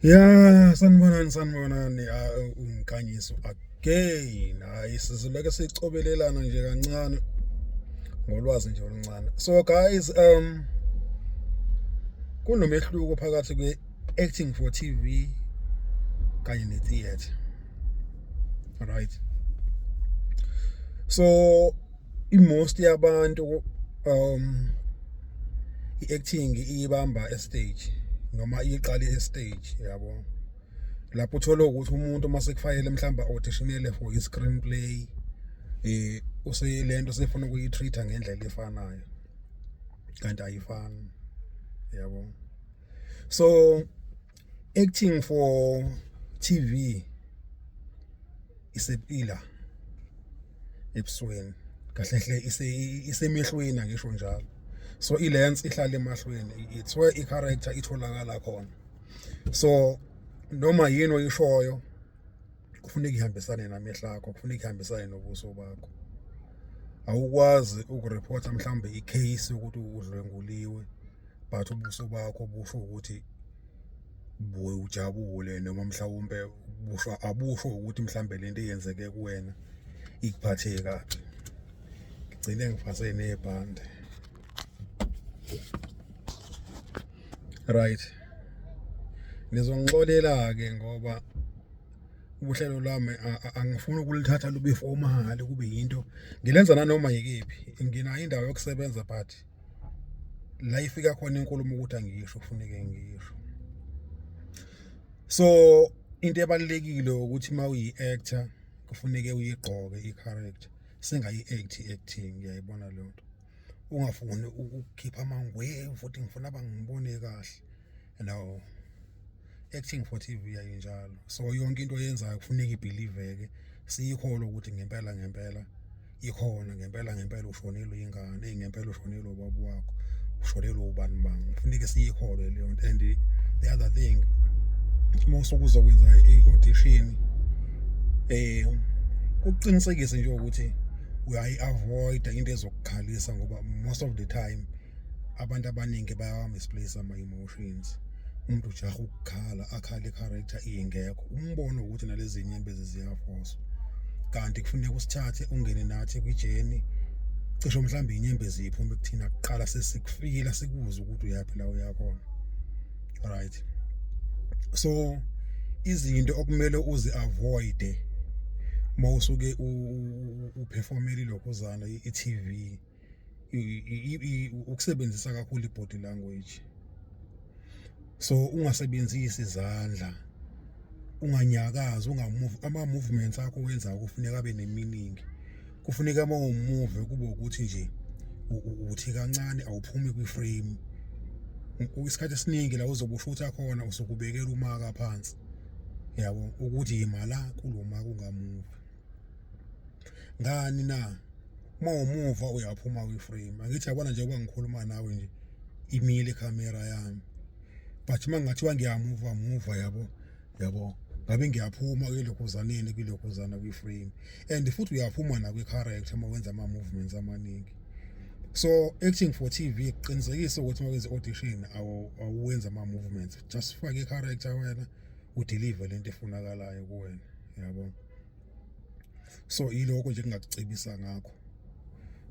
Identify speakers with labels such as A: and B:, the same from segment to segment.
A: Ya sanibonani sanibonani uh, umkhanyiso again hayi sizileke sicobelelana nje kancane ngolwazi nje oluncane so guys um kunomehluko phakathi kwe acting for TV kanye ne theater right so i-most yabantu um i-acting iyibamba estage noma iyiqale estage yabo lapho uthola ukuthi umuntu uma sekufanele mhlawumbe auditionele for i-screen play eh useyilento sefuna ukuyitreat ngendlela efanayo kanti ayifani yabo so Acting for TV is a pillar ebusweni kahle hle isemehlweni angisho njalo so ilens ihlala emahlweni it's where i character itholakala khona so noma yini oyishoyo kufuneka ihambisane namehla akho kufuneka ihambisane nobuso bakho awukwazi ukurephotha mhlawumbe icase yokuthi udlwenguliwe but ubuso bakho busho ukuthi buye ujabule noma mhlawumbe busho abusho ukuthi mhlawumbe lento eyenzeke kuwena ikuphathe kabi ngigcine ngifase nebhande right nizongixolela ke ngoba ubuhlelo lwami angifuni ukulithatha lube for umahali kube yinto ngilenza nanoma yikephi nginayo indawo yokusebenza but la ifika khona inkulumo ukuthi angisho kufuneke ngisho so into ebalekile ukuthi uma uyi-actor kufuneke uyigqoke i-character singayi-act acting ngiyayibona leyo nto ungafuni ukukhipha amangwevu futhi ngifuna bangibone kahle hello acting for TV yayo njalo so yonke into oyenzayo kufuneka ibelieveke siyikholwa ukuthi ngempela ngempela ikhona ngempela ngempela ushonelwe ingane ingempela ushonelwe ubaba wakho ushonelwe ubani bami kufuneka siyikholwe leyo nto and the other thing uma usukuzokwenza i-audition eh kuqinisekise nje ukuthi uyayi-avoida into ezokukhalisa ngoba most of the time abantu abaningi bayawamisplace ama-emotions umuntu ujaha ukukhala akhale i-character ingekho umbono ukuthi nalezi nyembezi ziyafoswa kanti kufuneka usithathe ungene nathi kwijeni cisho mhlawumbe inyembezi iphume kuthina kuqala sesikufikile sikubuza ukuthi uyaphi la uyakhona right so izinto okumele uzi avoid mawusuke uperformeli lokho zana i-TV ukusebenzisa kakhulu ibody language so ungasebenzisi izandla unganyakazi ungamove ama movements akho wenza kufuneka abe neminingi kufuneka uma umove kube ukuthi nje uthi kancane awuphumi kwi frame isikhathi esiningi la uzobe ushutha khona usukubekela umaka phansi yabo ukuthi yimala kuloma kungamuva ngani na uma umuva uyaphuma kwi-frame angithi yabona nje uba ngikhuluma nawe nje imile ikhamera yami but uma ngathiwa ngiyamuva muva yabo yabo ngabe ngiyaphuma kwilokhuzaneni kwilokhuzana kwi-frame and futhi uyaphuma nakwi-character uma wenza ama-movements amaningi so acting for tv qinisekise ukuthi uma wenza audition awuwenza ama-movements just fake i-character wena udeliver le nto efunakalayo kuwena yabo so yiloko nje kungakucebisa ngakho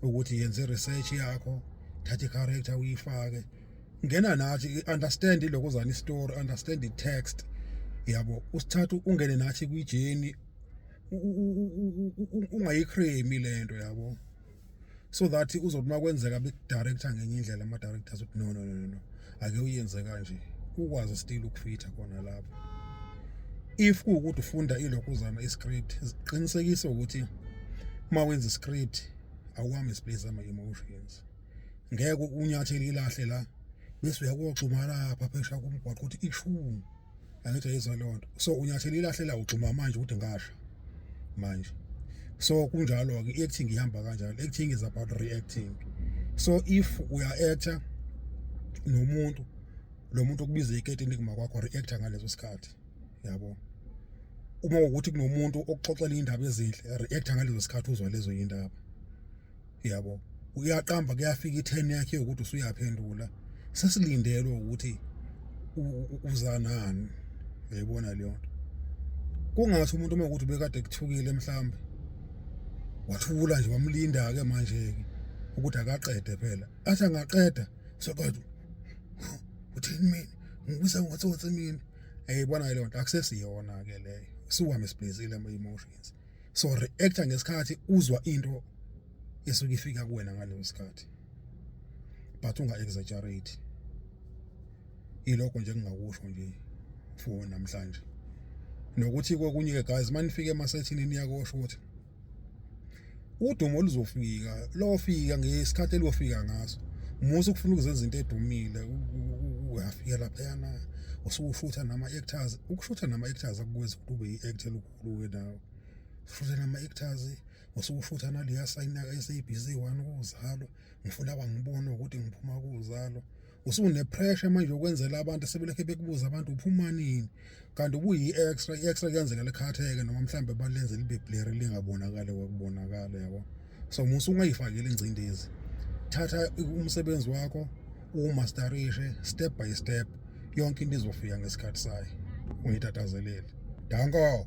A: ukuthi yenze research yakho thatha i-character uyifake ngena nathi understand iloko zani story understand the text yabo usithathu ungene nathi kwijeni ungayichremi lento yabo so that uzothi makwenzeka bekudirector ngenye indlela ama directors ukuthi no no no no ake uyenze kanje ukwazi still ukufitha khona lapho if kuwukuthi ufunda ilokhuzana iscript ziqinisekise ukuthi uma wenza iscript awuhamba isplace ama emotions ngeke unyathele ilahle la bese uyakoxuma lapha phesha kumgwaqo ukuthi ishumi angithi ayizwa leyo nto so unyathela ilahlela ugxuma manje ukuthi ngasha manje so kunjalo-ke i-acting ihamba kanjalo acting is about reacting so if uya-acta nomuntu lo muntu okubiza iketini kuma kwakho reacta ngaleso sikhathi yabo uma ukuthi kunomuntu okuxoxela iy'ndaba ezinhle reacta ngaleso sikhathi uzwa lezo y'ndaba yabo uyaqamba kuyafika i-turn yakhe yokuthi usuyaphendula sesilindelwe ukuthi uzanani yayibona leyo nto kungathi umuntu uma ukuthi bekade kuthukile mhlambe wathula nje wamlinda-ke manje-ke ukuthi akaqede phela athi angaqeda soqeda uthini mina ngibisa ngotsotsi mina yayibona-ke leyo nto akusesiyona-ke leyo siwuhamba sibhezile ama-emotions so reactor ngesikhathi uzwa into esuke ifika kuwena ngaleso sikhathi but unga exaggerate ilokho nje engingakusho nje for namhlanje nokuthi kokunye ke guys manifike emasethini niyakosho ukuthi udumo oluzofika lofika ngesikhathi elofika ngaso musa ukufuna ukuzenza into edumile uyafika laphayana usukushutha nama-actors ukushutha nama-actors akukwenza ukuthi ube yi-act elikhulu Kuwe nawe futhi nama-actors ngosuku futhi analiya sayinaka esabc one ukuzalwa ngifuna abangibone ukuthi ngiphuma kuzalwa usunepressure manje yokwenzela abantu sebelekhe bekubuza abantu uphuma nini kanti ubuyi-extra i-extra kuyenzeka likhatheke noma mhlawumbe balenze libe blary lingabonakali kwakubonakala yabo so musa ungayifakeli ingcindezi thatha umsebenzi wakho uwumasterishe step by step yonke into izofika ngesikhathi sayo ungitathazeleli danko